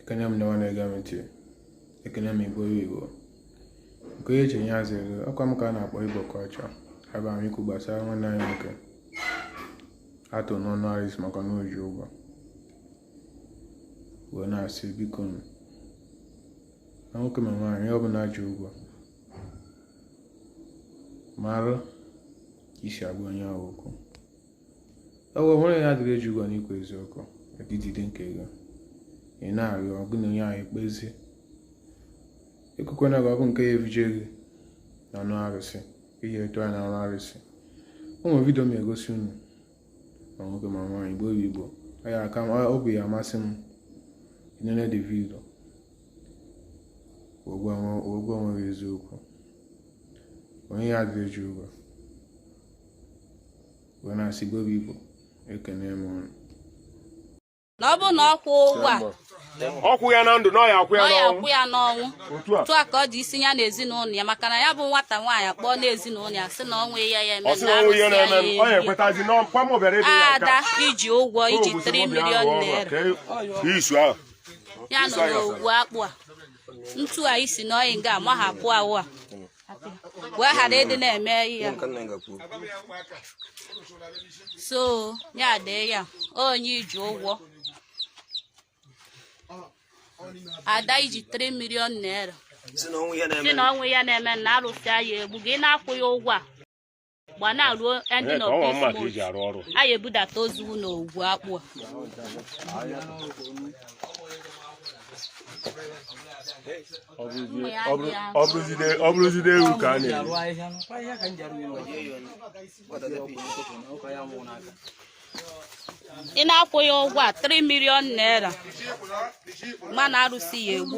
ekene m ndewa na-ege m ntị ekene m igbo igbo nke onye ji ya azụ ego ọkwa m ka a na-akpọ igbo ka ọcha abịara m ikwu gbasara nwanne anyị nwoke a tụ n'ọnụ aris maka na o ji ụgwọ wee na-asị biko nụ na nwoke ma nwaanyị ọ bụla ji ụgwọ marụ ka i si agwa onye ahụ okwu ewe nwere ya adịrị eji ụgwọ n'ikwu eziokwu ejide nke gị ị na-arịọ ọgụ na onye ahụ ekpezie ekwekwana gị ọgụ nke ya erije gị n'ọnụ arụsị ihe a tụ ya n'ọnụ arụsị o nwere vidio m ya egosi unu ma nwoke ma nwaanyị igbo igbo ya aka ọ bụ ya amasị m i nene the vidio ogwe onweghị eziokwu onye ya adịrị eji ụgwọ wee na-asị gobe igbo ekene m unu na ọ bụrụ na ọ kwụ ụgwọ a ọ kwụ ya na ndụ na ọ ya akwụ ya ọ ya n'ọnwụ akwụ ya n'ọnwụ otu a otu a ka ọ dị isi ya na ezinụlọ ya maka na ya bụ nwata nwaanyị akpọọ na ezinụlọ ya sị na o nwe ihe ya eme ọ sị na o nwe ihe arụsị ya na-eme m, ọ ya ya eri. ekwetazi na ọkwa m obere ebe ya ada nka i ji ụgwọ i ji 3 million naira isu ahụ ya nọ n'ogwu akpụ a ntu a isi na ọyị nga amahapụ awụ a wee ghara ịdị na-eme ya so ya dee ya onye i ji ụgwọ ada i ji 3 million naira sị na o nwe ihe a na-eme na arụsị ya egbu gị na-akwụghị ụgwọ a gbana ruo ndị nọ anyị ebudata ozu na ogwu akpụ a ọ bụrụzide ewu ka a na-eri ị na-akwụghị ụgwọ a 3 million naira ma na arụsị ya egbu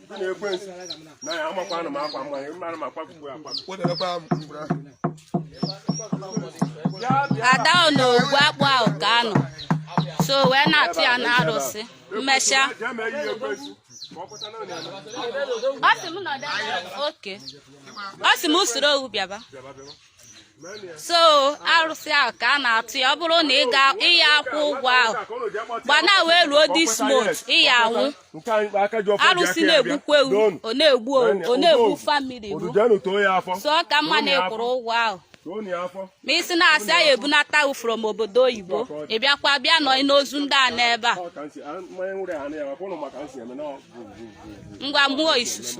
ada ọ na ogwu akpụ ahụ ka a nọ so wee na-atụ ya na arụsị mmesịa ọ sị m nọdụ ebe a. oke ọ sị m usoro owu bịaba so arụsị ahụ ka a na-atụ ya ọ bụrụ na ị ga ị ya akwụ ụgwọ ahụ gbana wee ruo this month ị ya anwụ arụsị na-egbukwa ewu ọ na-egbu owu ọ na-egbu family bụ so ọ ka mma na ị kwụrụ ụgwọ ahụ ma isi na-asị anyị ebunata ahụ from obodo oyibo ị bịakwa bịa nọ n'ozu ndị a n'ebe a ngwa mmụọ isusu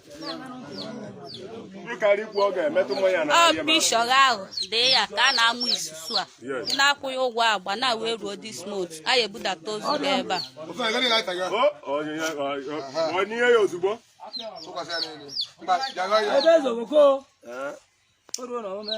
ọ bishọrọ ahụ dee ya ka a na-amụ isusu a ị na-akwụ ya ụgwọ agba na wee ruo this month a ya ebudata ozu gị ebe a Ebe ezo bụ ko. O ruo na omume.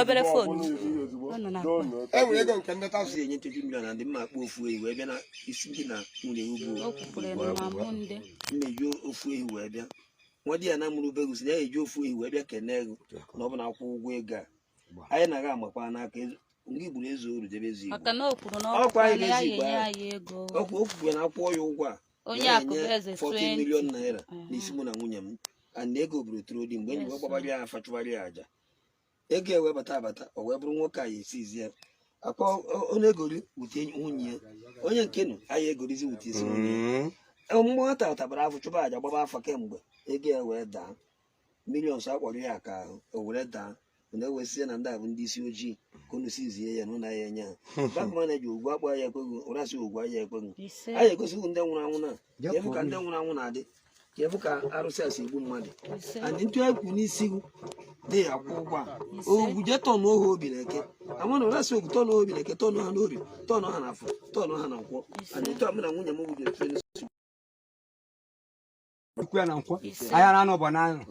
obere fon enwere ego nke ndị tasi enye nchechi mmiri na ndị mma akpụ ofu ehi wee bịa na isi gị na nwunye ugwu nneji ofu ehi wee bịa nwadiana mụrụ obere si na ya eji ofu ehi wee bịa kene ego na ọ bụ na akwụ ụgwọ ego a anyị na-aga amakwa n'aka ndị gburu eze oru debe ezi igbo ọkwa anyị na-ezi igbo ọkwa okwukwe na akwụkwọ ya ụgwọ a onye akụ bụ eze 40 million naira n'isi mụ na nwunye m and ego buru tụrụ di mgbe e ji wee gbabara ya afa chụbara ya aja ego ya wee bata abata o wee bụrụ nwoke a ya esizi ya akpa onye egori wute nwunye ya onye nke nụ anyị egorizi wute isi nwunye ya mgbe nwata tabara afọ chụba aja gbaba afa kemgbe ego ya wee daa millions akpọrọ ya ka o were daa na ewesịa na ndị a bụ ndị isi ojii ka unu si zie ya na ụlọ ya enye ha bank manager ugwu akpọ ya ekweghị ụra si ugwu ya ekweghị ise anyị egosighị ndị nwụrụ anwụ na Ya ka ebu ka kwuo ndị nwụrụ anwụ na-adị ka ebu ka arụsị a si egbu mmadụ ise and ntụ anyị kwuru n'isi gị dị ya kwụ ụgwọ a ogwu je tọnụ ohu obi na eke ama na ụra si ogwu tọnụ obi na eke tọnụ ha n'obi tọnụ ha na afọ tọnụ ha na nkwọ and ntụ a mụ na nwunye m bụ ji otu ekwu ya na nkwọ ahịa na anụ bụ na anụ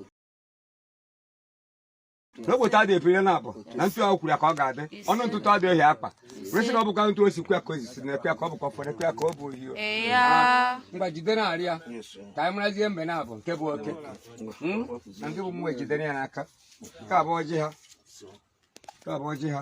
n'obodo adị ebiri na abụ na ntụ ahụ kwuru ya ka ọ ga-adị ọnụ ntụtụ adị ohi akpa resị na ọ bụkwa ntụ osi kwa ka o zisi na ekwe ka ọ bụkwa fọrọ ekwe ka ọ bụ ohi ngwa jide na arị ya ka anyị marazie mbe na abụ nke bụ oke hmm? na ndị bụ mmụọ ejidere ya n'aka nke abụọ ji ha nke abụọ ji ha